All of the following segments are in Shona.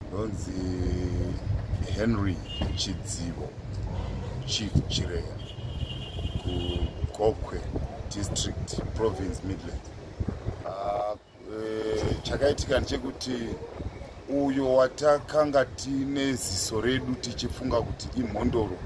ndonzi henry chidzivo chief chireya kugokwe district province midland ah, eh, chakaitika ndechekuti uyo watakanga tine ziso redu tichifunga kuti imhondoro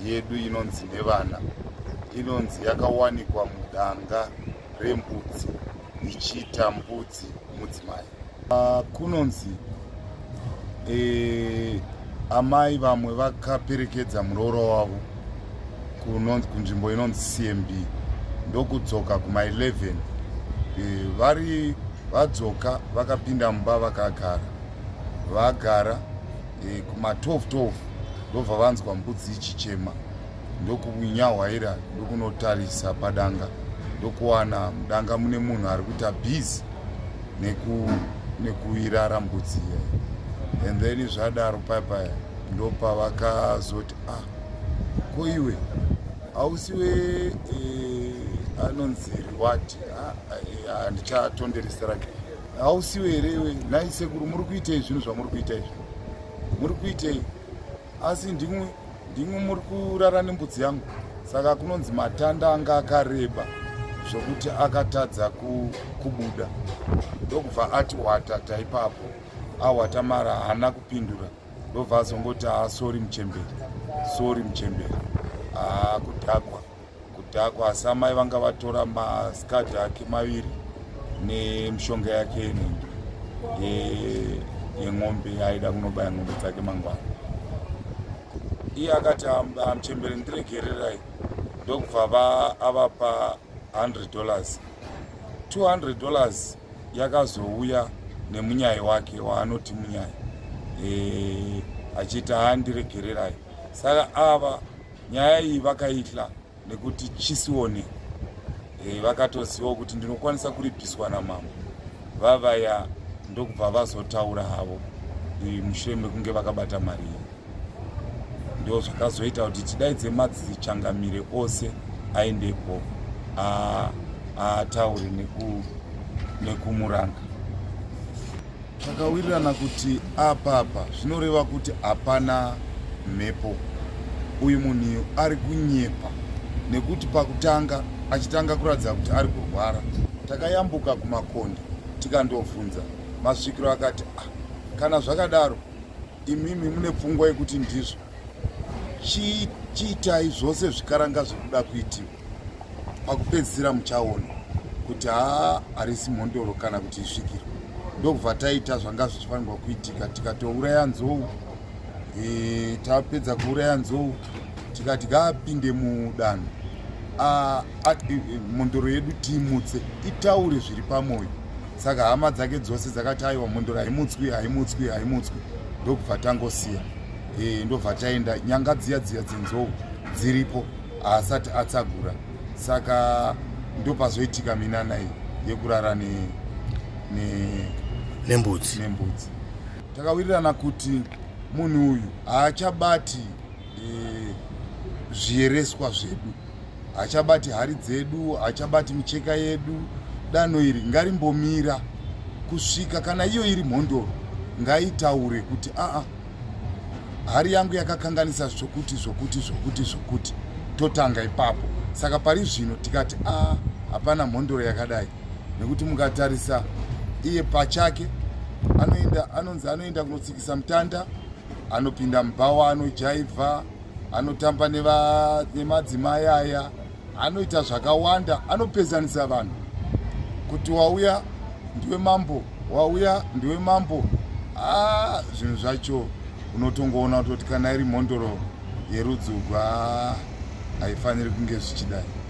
yedu inonzi nevana inonzi yakawanikwa mudanga rembudzi ichiita mbudzi mudzimai ah, kunonzi eh, amai vamwe vakaperekedza muroora wavo kunzvimbo inonzi cmb ndokudzoka kuma 11 eh, vari vadzoka vakapinda mumba vakagara vagara e, kuma 12 12 ndobva vanzwa mbudzi ichichema ndokunyahwaira ndokunotarisa padanga ndokuwana mudanga mune munhu ari kuita busy neku nekuirara mbudzi iyayi and then zvadaro paya paya ndopa vakazoti ah ko iwe hausiwe eh, anonzi rewati ah, eh, handichatondereserake ah, eh, hausiwe here iwe nhai sekuru muri kuitei zvinhu zvamuri kuita izvi muri kuitei asi ndimwe ndimwe muri kurara nembudzi yangu saka kunonzi matanda anga akareba zvokuti akatadza kubuda ndokubva ati watata ipapo awata mara haana kupindura ndobva azongoti asori ah, muchemberi sori muchemberi akudhakwa ah, kudhakwa asi amai vanga vatora maskad ake maviri nemishonga yake inenge yeng'ombe aida kunobaya ng'ombe dzake mangwana iye akati amuchembere ndiregererai ndokubva vaavapa 100 dollars 200 dollars yakazouya nemunyai wake waanoti munyai e, achiti handiregererai saka ava nyaya iyi vakaitla nekuti chisione e, vakatozivawo kuti ndinokwanisa kuripiswa namambo vavaya ndokubva vazotaura havo e, mushure mekunge vakabata mari iyi ndo zvakazoita kuti tidaidze madzichangamire ose aendepo ataure nekumuranga Takawirirana kuti apa apa zvinoreva kuti hapana mhepo. Uyu munhu ari kunyepa nekuti pakutanga achitanga kuratidza kuti ari kurwara takayambuka kumakonde tikandovhunza masvikiro akati ah, kana zvakadaro imimi mune pfungwa yekuti ndizvo chiitai zvose zvikaranga zvekuda kuitiwa pakupedzisira muchaona kuti haa harisi mhondoro kana kuti isvikiro ndokubva taita zvanga zvichifanirwa kuitika tikatouraya nzou e, tapedza kuuraya nzou tikati ngaapinde mudanho mhondoro yedu tiimutse itaure zviri pamwoyo saka hama dzake dzose dzakati aiwa mhondoro haimutswi haimutswi haimutswi ndokubva tangosiya e, ndobva taenda nyanga dziya dziya dzenzou dziripo haasati atsagura saka ndopazoitika minana iyi yekurara ne, ne, nembudzi nembudzi takawirirana kuti munhu uyu haachabati e, zviyereswa zvedu haachabati hari dzedu haachabati micheka yedu danho iri ngarimbomira kusvika kana iyo iri mhondoro ngaitaure kuti aa hari yangu yakakanganisa zvokuti zvokuti zvokuti zvokuti totanga ipapo saka pari zvino tikati a ah, hapana mhondoro yakadai nekuti mukatarisa iye pachake anoenda anonzi anoenda kunotsikisa mutanda anopinda mubhawa anojaivha anotamba nemadzimai aya anoita zvakawanda anopedzanisa vanhu kuti wauya ndiwe mambo wauya ndiwe mambo a zvinhu zvacho unotongoona kutoti kana iri mhondoro yerudzugwa haifaniri kunge zvichidai